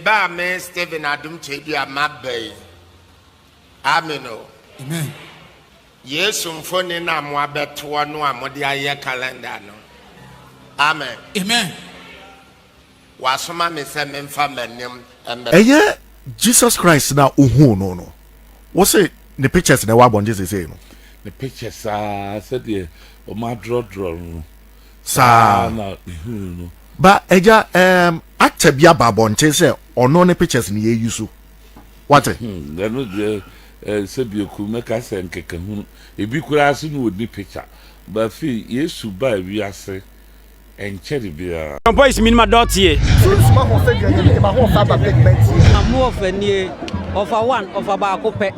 Ba a me Stephen Adom Twaadua maba yi, Amen o. Amen. Yesu mfoni na mo abɛtoɔ no a mode ayɛ calendar no. Amen. Amen. Wasoma me sɛ memfa m'anim mmɛto. Ɛyɛ Jesus Christ na ohuu no no. Wo se ne pictures na ɛwɔ abɔnten seesei no? Ne pictures aa sɛdeɛ wɔn adrɔdrɔ no. saa na mehunu no ba agya um, actor bi aba abɔnten sɛ ɔno ne pictures no yɛyi so wate hmm, ɛno deɛ eh, sɛ bioku mɛka sɛ nkekahunu ebi koraa so ne ɔni picture bafei yesu baa wiase ɛnkyɛre biara Bon boys minima dɔɔteɛ. Sunsuma ho sɛ deɛ nyɛ ne ma ho ɔfa aba big man tie. Amu ɔfa nie ɔfa one ɔfa baako pɛ.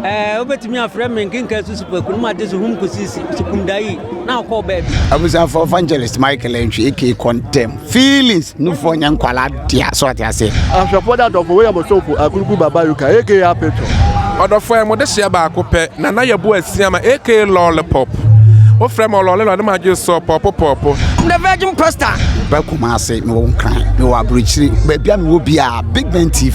Ɛɛ, wobɛtumi afrɛ me nkenkan susupaku no mate so hum kɔsi sukumdayi na wokɔɔ baabi. Abusuafo Evangelist Michael Antwi aka kɔntɛm feelings no fo nyɛ nkwala dea so ate ase. Ahwɛfoɔ da dɔfo William Osomfo Akuruku Baba Yuka aka Apeto. Ɔdɔfoɔ yɛ mo dehyeɛ baako pɛ Nana Yabu Asiama aka Lollipop Wo frɛ me ɔlɔle lɔle m'adwene sɔɔ pɔɔpo pɔɔpo I'm the virgin pastor. Meba Kumasi, mewɔ Nkran, mewɔ Aburokyire, baabi a mewɔ biara, Big Ben TV.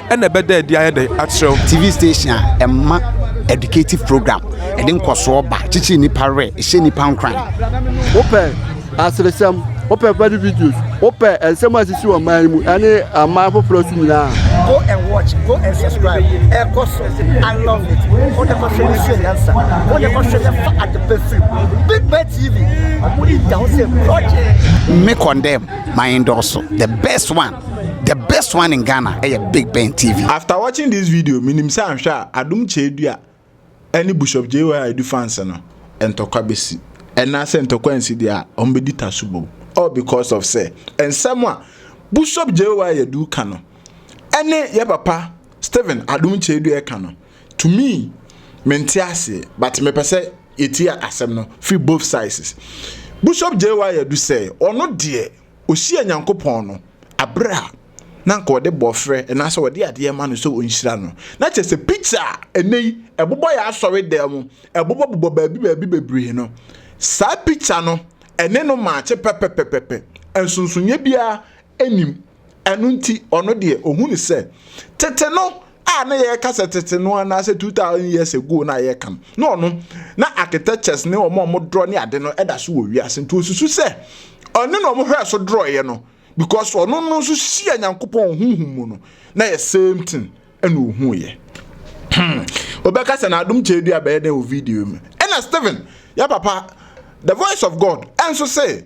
ɛna ɛbɛda adi ayɛ dɛn akyerɛ wo. TV station a ɛma educative program ɛde nkɔsoɔ ba kyekyere nipa werɛ ɛhyɛ nipa nkuran. wopɛ aseresɛm wopɛ funny videos wopɛ nsɛm a sisi wɔ man mu ɛne aman foforɔ so nyinaa. go and watch go and subscribe ɛkɔ so i love it wo ne kɔhwɛ ne sua nyansa wo ne kɔhwɛ ne fa adepa firi big man tv ɔmo de da ho sɛ project. me condemn my endorse the best one. The best one in Ghana ɛyɛ eh, Big Ben TV. After watching this video, minim sɛ anhwɛ a Adum Kyɛdua ɛne Bishop JY Edu fans no ntɔkwa besi. Ɛna sɛ ntɔkwa nsi deɛ a wɔn bɛdi taso bom. All because of sɛ nsɛm a Bishop JY Edu ka no ɛne yɛ papa Stephen Adum Kyɛdua ɛka no. To me, mente aseɛ but mepɛ sɛ yɛtie asɛm no firi both sizes. Bishop JY Edu sɛ ɔno deɛ Ɔhyiaa Nyankopɔn no aberɛ a na anka ɔde bɔɔfrɛ anaasɛ ɔde adeɛ ma no sɛ ɔnhyira no. Na kyerɛ sɛ picture a ɛnnɛ yi ɛbobɔ yɛn asɔre dan mu, ɛbobɔ bobɔ baabi baabi bebree no, saa picture no ɛne no maakye pɛpɛpɛpɛpɛ. Nsonsonoeɛ biara nnim. Ɛno nti ɔno deɛ ɔhunu sɛ tete no a na yɛka sɛ tete no anaasɛ 2000 years ago na yɛka no na ɔno na architectures ne wɔn a wɔn drɔ ne ade no ɛda so wɔ wiase nti osusu sɛ ɔne na wɔn hwɛ so drɔeɛ no because ɔno no nso hyia nyankopɔn huhu mu no na yɛ same thing ɛna ohu yɛ hmm obɛka sɛ na adom kyɛ dua bɛyɛ dɛ wɔ video mu ɛna Stephen ya papa the voice of God ɛnso sɛ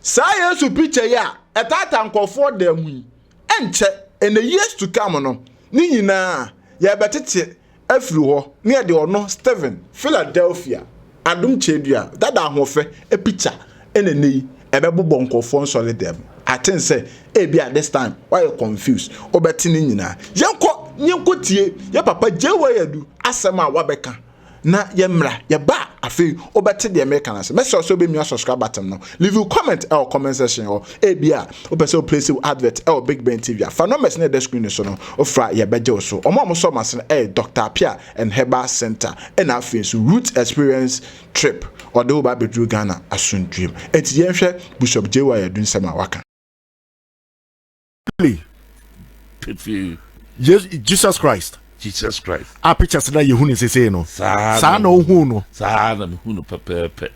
saa yesu picture yi a ɛtaata nkɔfoɔ da mu yi Ɛnkyɛ, ɛnna Yesu tu ka mo no, ne nyinaa yɛrebɛtete afiri hɔ na yɛde ɔno, Stephen, Philadelphia Adom Kyɛɛdua dada ahoɔfɛ picture na ɛnnɛ yi ɛbɛbobɔ nkurɔfoɔ nsɔredɛm mu. I think sɛ ebia this time woayɛ confused, wobɛte ne nyinaa. Yɛnkɔ, yɛnkɔtie yɛn papa JY Adu asɛm a wabɛka. na yɛ mmra yɛ ba afei wobɛte deɛ meka no ase mɛsɛ sɛ wobɛmia subscribe button no leave you comment ɛwɔ comment section hɔ ebi a wopɛ sɛ woplace wo advert ɛwɔ big ben tv a fa numbers na ɛda screen no so no wofra yɛbɛgye wo so ɔmo a mosɔ mo ase no ɛyɛ dr apia and herbal center ɛna afei nso root experience trip ɔde wo ba abɛduru ghana asomdwuem ɛnti yɛnhwɛ bishop jay wa yɛdu nsɛm a waka Really? Pefee. Yes, Jesus Christ. Jesus Christ. A pictures na yehu ne sese no. Saa na ohun no. Saa na mehu no pɛpɛɛpɛ.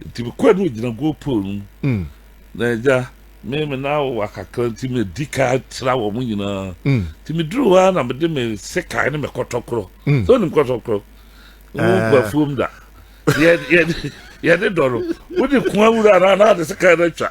Nti mekɔɛ no gyina goal pole no mu. Mm. Na agya me me na wɔ akakra nti medi ka tra wɔ mo nyinaa. Mm. Nti meduru hɔ ara na mede me sekan ne me kɔtɔkorɔ. Mm. Sɛ onim kɔtɔkorɔ. Wo eh. nkɔ afuom da. Yɛde dɔ no. Wode kua wura na na de sekan no atwa.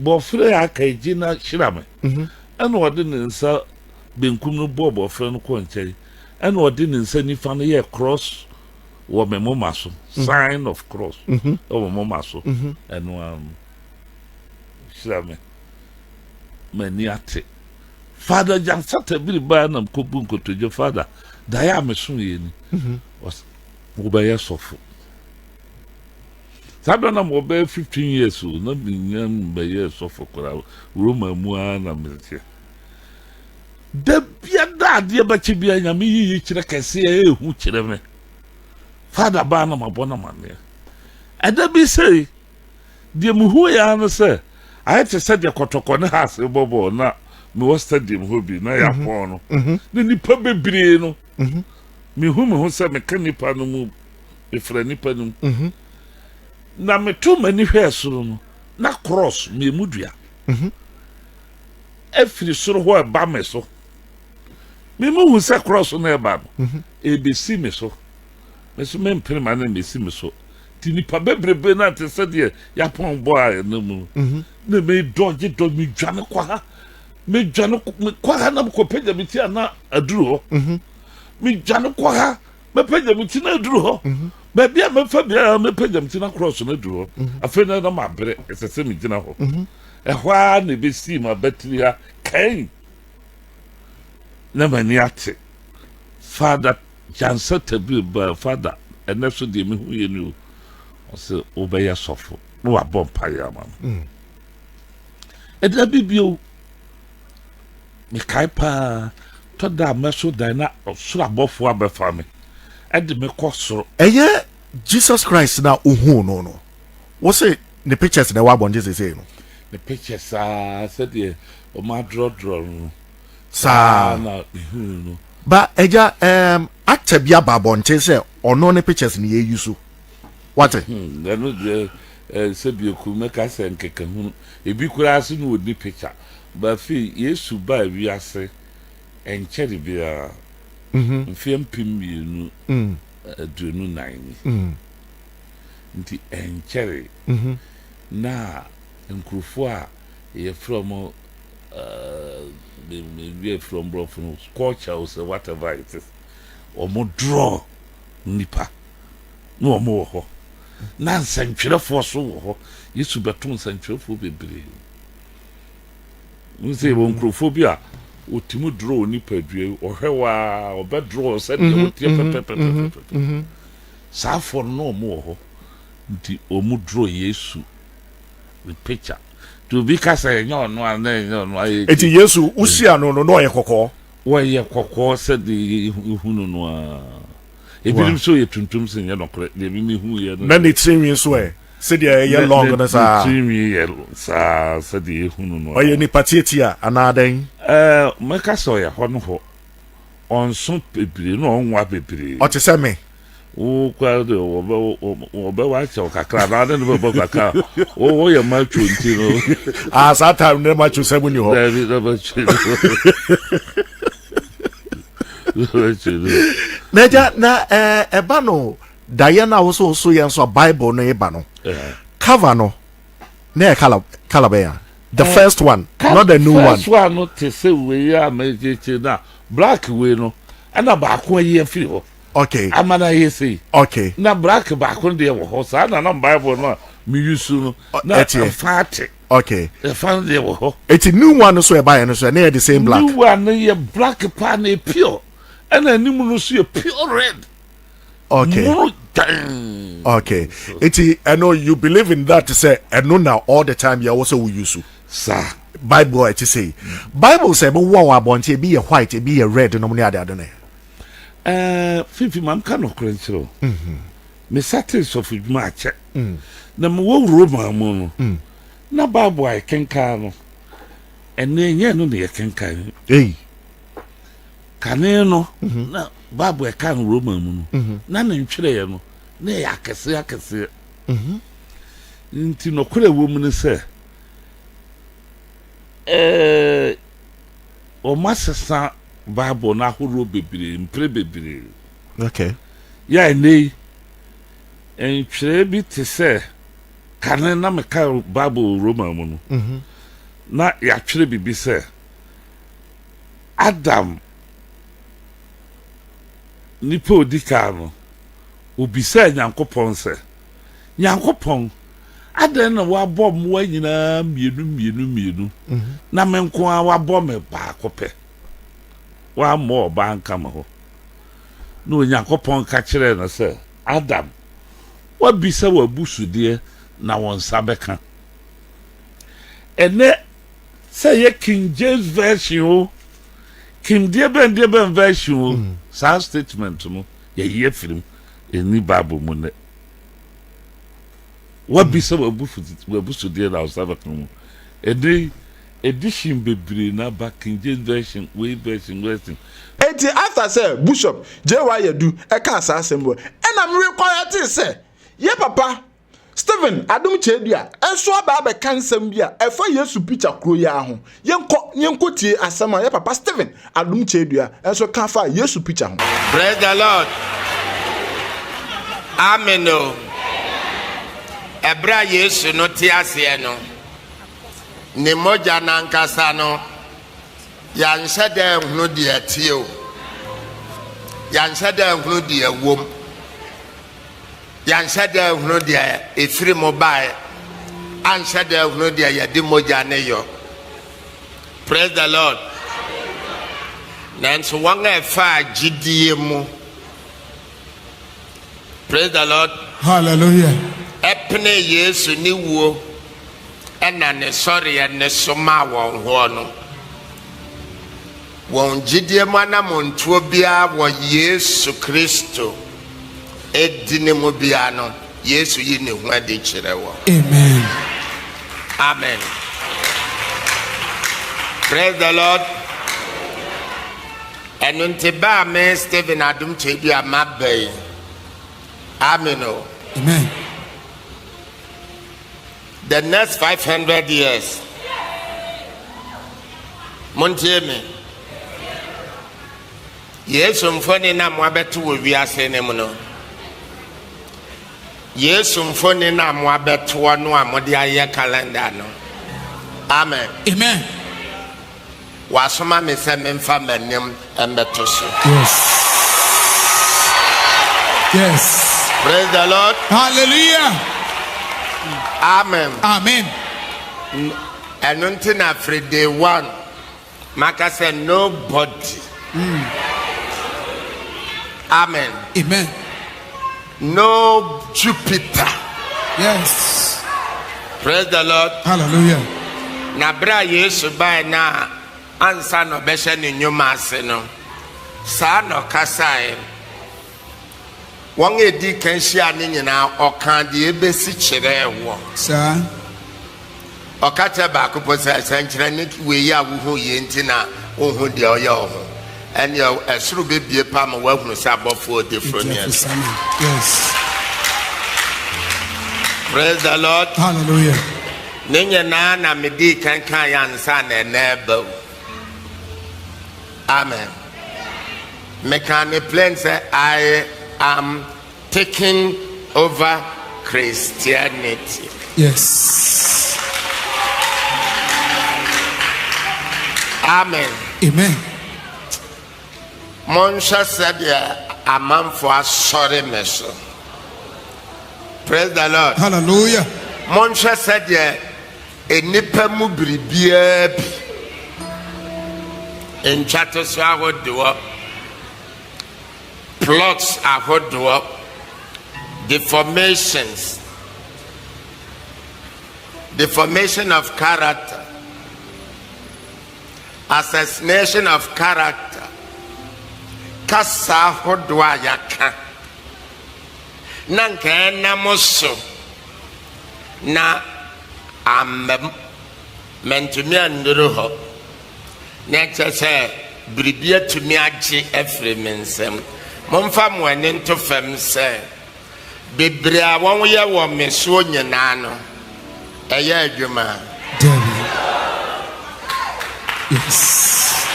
Bɔfrɛ a aka yi, gye na hyira me. Ɛnna ɔde ne nsa benkum no bɔɔ bɔfrɛ no kɔɔ nkyɛn, ɛnna ɔde ne nsa nifa no yɛɛ krɔs wɔ me moma so, sign of cross wɔ me moma so. Ɛno ara no, hyira me. M'ani ate. Father Gyansata bi reba a na mekɔbu nkotodwe, Father, daeɛ a mesoeɛ ni. Ɔse, wobɛyɛ sɔfo. Saa berɛ na mewɔ bɛyɛ fifteen years o, na mennya mbɛyɛɛ sɔfo koraa, Roma mu ara na meteɛ. Da biara adeɛ bɛkye biara, Nyame yi yikyerɛ kɛseɛ ɛyɛ hu kyerɛ me. Fada baa na mabɔ no amanneɛ. Ɛda bi sei, deɛ mehu yɛ ara ne sɛ, ayɛ te sɛ deɛ kɔtɔkɔ ne haase bɔ bɔɔl na mewɔ stadium hɔ bi na yɛapɔn no, na nnipa bebree no, Mehu me ho sɛ meka nnipa no mu, mefra nnipa no mu. Na meto m'ani hwɛɛ soro no, na krɔs mmiemu dua afiri soro hɔ ɛba me so. Memu hu sɛ krɔs no ɛba no, ɛbɛsi me so. Me so mempene ma no mmɛsi me so. Nti nnipa bebrebe no te sɛ deɛ yɛapɔn bɔ a ɛna mu no. Na medɔgye dɔ, medwane kɔ ha. medwane mekɔ ha na mekɔpagya me ti a na aduru hɔ mhm. medwane kɔ ha mɛpagya me ti na aduru hɔ mhm. baabi a mɛfa biara mɛpagya me ti na korɔ so na aduru hɔ mhm. afei na na mabrɛ ɛsɛ sɛ megyina hɔ ɛhɔ ara na ɛbɛsii ma batiri ha kan na m'ani ate fada gyansa tabiri baa fada ɛnɛ so deɛ mehu yɛ ni o ɔsɛ wobɛyɛ sɔfo na wabɔ mpaeɛ ama no mm. Da bi bio, mekae paa, tɔ da a mɛso dan na ɔsoro abɔfo abɛfa me de me kɔ soro. Ɛyɛ Jesus Christ na ohuu no no. Wo se ne pictures na ɛwɔ abɔnten sesei no? Ne pictures aa sɛdeɛ wɔn adrɔdrɔ no no. Saa na mehuu no. Ba agya, um, actor bi aba abɔnten sɛ ɔno ne pictures na yɛyi so. Woate? Hmm, ɛno deɛ eh, sɛ biaku mɛka sɛ nkekahunu. Ebi koraa so ne ɔni pikya. Ba afei, Yesu baa wiase ɛnkyɛre biara mhm. mfeɛ mpem mmienu mm. eh, aduonu nan ni. Mm. Nti ɛnkyɛre mhm. na nkurɔfoɔ a yɛfrɛ mo maybe from Brofun, culture or whatever it is, or more draw. nnipa ne wɔn wɔ hɔ. Na nsɛntwerɛfoɔ nso wɔ hɔ. Yesu bɛtoo nsɛntwerɛfoɔ bebree. Wohu sɛ yɛwɔ nkurɔfoɔ bi a wɔtumi dorɔ wo nipadua yi, ɔhwɛ wo a, ɔbɛdorɔ wo sɛdeɛ mm-hmm, woteɛ mm-hmm, pɛpɛpɛpɛpɛpɛ. Mm-hmm, Saafoɔ no na wɔn wɔ hɔ. Nti wɔn dorɔ Yesu ne picture. Nti obi ka sɛ ɛnyɛ ɔno a na ɛnyɛ ɔno a. Nti Yesu wosia no no na ɔyɛ kɔkɔɔ. Wɔyɛ kɔkɔɔ sɛ deɛ yɛhu no no ara. Ebinom sɛ ɔyɛ tuntum sɛ nyɛ nɔkorɛ, deɛ me mehu yɛ no. Na ne tirinwi nso ɛ? Sɛdeɛ ɛyɛ long no saa? Ne tirinwi yɛ saa sɛdeɛ yɛhu no no ara. Ɔyɛ nipa tiatia anaa dɛn? Ɛɛ, mɛka sɛ ɔyɛ hɔ no hɔ. Ɔnso bebree na ɔnwa bebree. Ɔte sɛ me? Wo koraa deɛ wɔbɛ wɔbɛ wakyɛ wo kakra na ɔde no bɛbɔ kakra wo wo yɛ macho nti no. ah saa time ne macho sɛ mu ni hɔ. daabi na macho ni hɔ. na gya na ɛba eh, no daeɛ no a wo so wo so yɛ nso a bible no ɛba no eh. cover no na yɛ kala kala bɛyɛ the eh, first one not the new one. first one no te sɛ wei a mɛkyekye na black wei no ɛna baako ayi afiri hɔ. Okay. Ama no ayɛ sei. Okay. Na black baako deɛ wɔ hɔ saa na na bible no a me use no na ɛfa ate. Okay. Ɛfa no deɛ wɔ hɔ. Eti new one no so ɛbaeɛ no so ɛna yɛ the same black. New one no yɛ black paa na pure ɛna anim no so yɛ pure red. Okay. Muro dan. Okay. Eti ɛno you believe in that sɛ ɛno na all the time yɛ wɔ sɛ wo use. Saa. Bible a ɛte sɛ yi. Bible sɛ ɛbɛwɔ wɔ abɔnten ebi yɛ white ebi yɛ red nom ne ade ade no. Ɛɛ, Fifi, ma menka nokorɛ nkyerɛ wo. Mesatee sɔfodwuma akyɛ, na mewɔ Roma mu no, na Bible a yɛkenkan no, ɛnneɛ ɛnyɛ ɛno na yɛkenkan. Ei! Kane no, na Bible a ɛka no Roma mu no, na ne ntwerɛeɛ no, na ɛyɛ akɛseɛ akɛseɛ. Nti nokorɛ wɔ mu ne sɛ, ɛɛ, wɔasesa Bible no ahorow bebree, mpere bebree. Okay. Yɛ a nnɛ yi, ntwerɛ bi te sɛ kane na meka Bible Roma mu no, mhm. na yɛatwerɛ biribi sɛ Adam nipa odi kan no obisaa Nyankopɔn sɛ Nyankopɔn, adɛn na woabɔ mmoa nyinaa mmienu mmienu mmienu, mhm. na me nko ara woabɔ me baako pɛ? Woammɔ ɔbaa nka me ho. Na Onyankopɔn ka kyerɛɛ no sɛ, Adam, woabisa w'abusudeɛ na wo nsa bɛka. Ɛnɛ sɛ yɛ King James version o, King deɛ bɛn deɛ bɛn version o, mhm. saa statement no yɛyi afiri mu. Enni Bible mu nnɛ. Woabisa w'abusudeɛ na wo nsa bɛka mu. Ɛnnɛ yi, edition bebree na aba, King James Version, wei version, wei version. Enti after sɛ Bushop JY Adu kaa saa asɛm wɔ, ɛna me recɔrɛtee sɛ, yɛ papa Stephen, Adom Kyɛadua, nso aba abɛka nsɛm bi a ɛfa Yesu pikya koro yi ara ho. Yɛnkɔ na yɛnkɔtie asɛm a yɛn papa Stephen, Adom Kyɛadua, nso ka faa Yesu pikya ho. Praise the Lord. Amen o. Ɛberɛ a Yesu no te aseɛ no, ne mogya no ankasa no, yɛanhyɛ dɛ nhunu deɛ ɛteɛ o. Yɛanhyɛ dɛ nhunu deɛ ɛwom. Yɛanhyɛ da anhunu deɛ ɛfiri mu baeɛ, anhyɛ da anhunu deɛ yɛde mogya ne yɔ. Praise the Lord. Nanso wɔn a ɛfaa gyidie mu, praise the Lord. Hallelujah. Ɛpene Yesu ne wuo ɛna ne sɔreɛ ne so maa wɔn hoɔ no. Wɔn gyedie mu anamontuo biara wɔ Yesu Kristo din mu biara no, Yesu yi Ne ho adi kyerɛ wɔn. Amen. Amen. Praise the Lord. Ɛno nti baa me Stephen Adom Kyedi a maba yi. Amen o. Amen. the next five hundred years montie me yesu mfoni na moabɛto wɔ wiase no mu no yesu mfoni na moabɛtoɔ no a mode ayɛ calendar no amen amen Wasoma me sɛ memfa m'anim mmɛto so. Yes. Yes. Praise the Lord. Hallelujah. Amen. Amen. Ɛno nti na afiri day one maka sɛ nobody. Mm. Amen. Amen. Nob Jupiter. Yes. Praise the Lord. Hallelujah. Na bere a Yesu bae na ansa na ɔbɛhyɛ ne nnwuma ase no, saa na ɔkasae. Wɔn a edi kan hyia ne nyinaa, ɔkaa deɛ ebesi kyerɛɛ wɔn. Saa. Ɔka kyerɛ baako mpo sɛ, Sɛnkyerɛnne wei a wuhu yi nti na wunhu deɛ ɔyɛ wo ho? Ɛnneɛ ɛsoro bɛbue paa ma woahunu sɛ abɔfoɔ odiforo ne ɛsɛ. Praise the Lord. Hallelujah. Ne nyinaa na medii kan kaa yɛ ansa na ɛnɛ ɛba o. Amen. Mekaa ne plain sɛ I am Taking Over Christianity. Yes. Amen. Amen. Monhwɛ sɛdeɛ amanfo asɔre me so. Praise the Lord. Hallelujah. Monhwɛ sɛdeɛ nnipa mu biribiara bi ntwa to so ahodoɔ. plots ahodoɔ, deformations, deformation of character, assassination of character, kasa ahodoɔ a yɛaka na nka ɛnam so na ammam mantumi annuru hɔ na ɛkyerɛ sɛ biribi atumi agye afiri me nsam. Momfa mo ani nto fam sɛ bebree a wɔyɛ wɔ me soɔ nyinaa no, ɛyɛ adwuma. Dabi. Yes.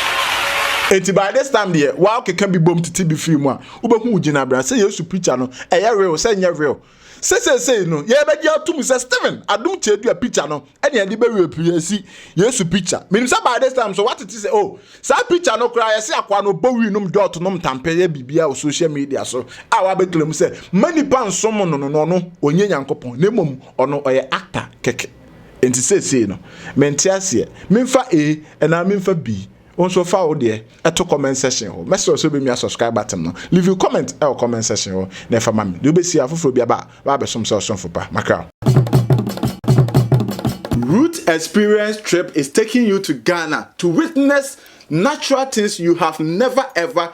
Enti by this time deɛ, woakeka bi bom tete bi firi mu a, wobɛhu wo gyinabea. Sɛ Yesu picture no, ɛyɛ real, sɛ ɛnyɛ real. Sɛ seesei no yɛbɛgye atom sɛ Stephen adom kyeedua pikya no ne ɛde bɛwie pii asi Yesu pikya. Menim sɛ by this time so woate te sɛ oh, saa pikya no koraa yɛse akoa no bɔ wii nom dɔɔto nom tampe yɛ biribiara wɔ social media so a wabɛclaim sɛ mma nnipa nsom no no na ɔno ɔnyɛ Nyankopɔn na mmom ɔno ɔyɛ actor kɛkɛ. Enti seesei no mente aseɛ memfa A anaa memfa B. Wo nso fa wo deɛ to comment section hɔ. Mɛsrɛ wo sɛ wobɛmia subscribe button no. Leave you comment wɔ comment section hɔ na ɛfa ma me. Deɛ wobɛsi a foforɔ bi aba a, woabɛsom sɛ ɔsomfo pa. Makra wo. Root Experience Trip is taking you to Ghana to witness natural things you have never ever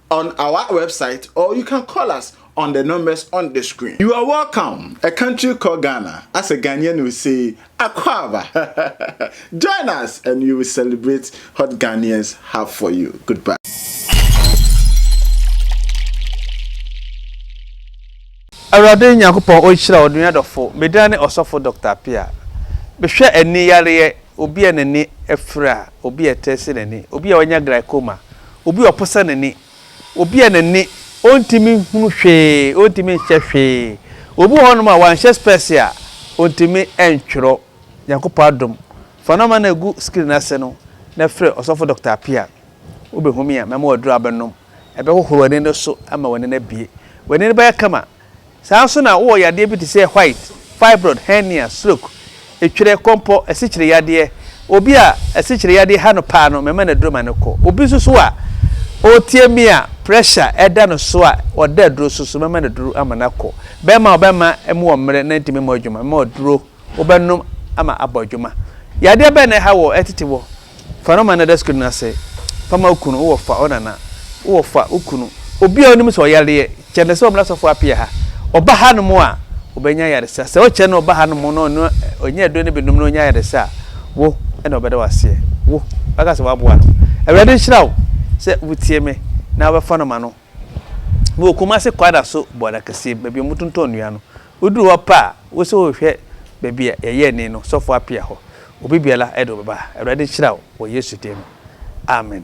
on our website or you can call us on the numbers on the screen. You are welcome, a country called Ghana. As a Ghanaian will say, Akwaba. Join us and you will celebrate what Ghanaians have for you. Goodbye. Awurade Nyankopɔn ɔnhyira wo nua dɔfo. Me din ne Ɔsɔfo Dɔkta Apia. Mehwɛ ani yareɛ, obi a n'ani afira, obi a ɛtɛsi n'ani, obi a wanya glaucoma, Obi a ɔposa n'ani. Obi a n'ani, ɔntumi nhunu hwee, ɔntumi nhyɛ hwee. Obi wɔ hɔnom a, wanhyɛ spɛɛse a, ɔntumi ntwerɛ. Nyankopɔn adom, fa nɔma no gu screen no ase no na frɛ Ɔsɔfo Doctor Appiah. Wobɛhu me a, mɛma wo aduro a wobɛnom. Ɛbɛhohoro w'ani no so ama w'ani no abue. W'ani no bɛyɛ kama. Saa ara nso na wowɔ yadeɛ bi te sɛ white, fibroid, hernia, stroke, etwerɛ, kɔmpɔ, asikyire yadeɛ. Obi a asikyire yadeɛ ha no paa no, mɛma no aduro ma no kɔ. Obi nso so a ɔretie me a pressure da no so a ɔda aduro so nso, mɛma no aduro ama no akɔ. Bɛrima a ɔbɛma mu wɔ mmerɛ na ɛntumi mmɔ adwuma, mɛma wo aduro. wobɛnom ama abɔ adwuma. Yadeɛ bɛn na ɛha wɔ ɛtete wɔ? Fa no ma nɛda sukuu no ase, fa ma wo kunu, wowɔ fa wo nana, wowɔ fa wo kunu, obi a wonim sɛ ɔyareɛ, kyɛ no sɛ ɔmmra sɔfoɔ apia ha. Ɔba ha nom a, ɔbɛnya ayaresa. Sɛ wokyɛ no ɔba ha nom na ɔno ɔnya aduro no bi nom na ɔnya ayaresa a, wo na ɔbɛda wo aseɛ. Wo, waka sɛ woaboa no. Awurade nhyira wo sɛ wotie me na wobɛfa no ma no. Mowɔ Kumase Kwada so bɔda kɛseɛ baabi a wɔtontɔn nnua no. Woduru hɔ pɛ a, wo sɛ wohwehwɛ baabi a yɛyɛ ani no, sɔfo apia hɔ. Obi biara de wo bɛba. Awurade nhyira wo wɔ Yesu din mu. Amen.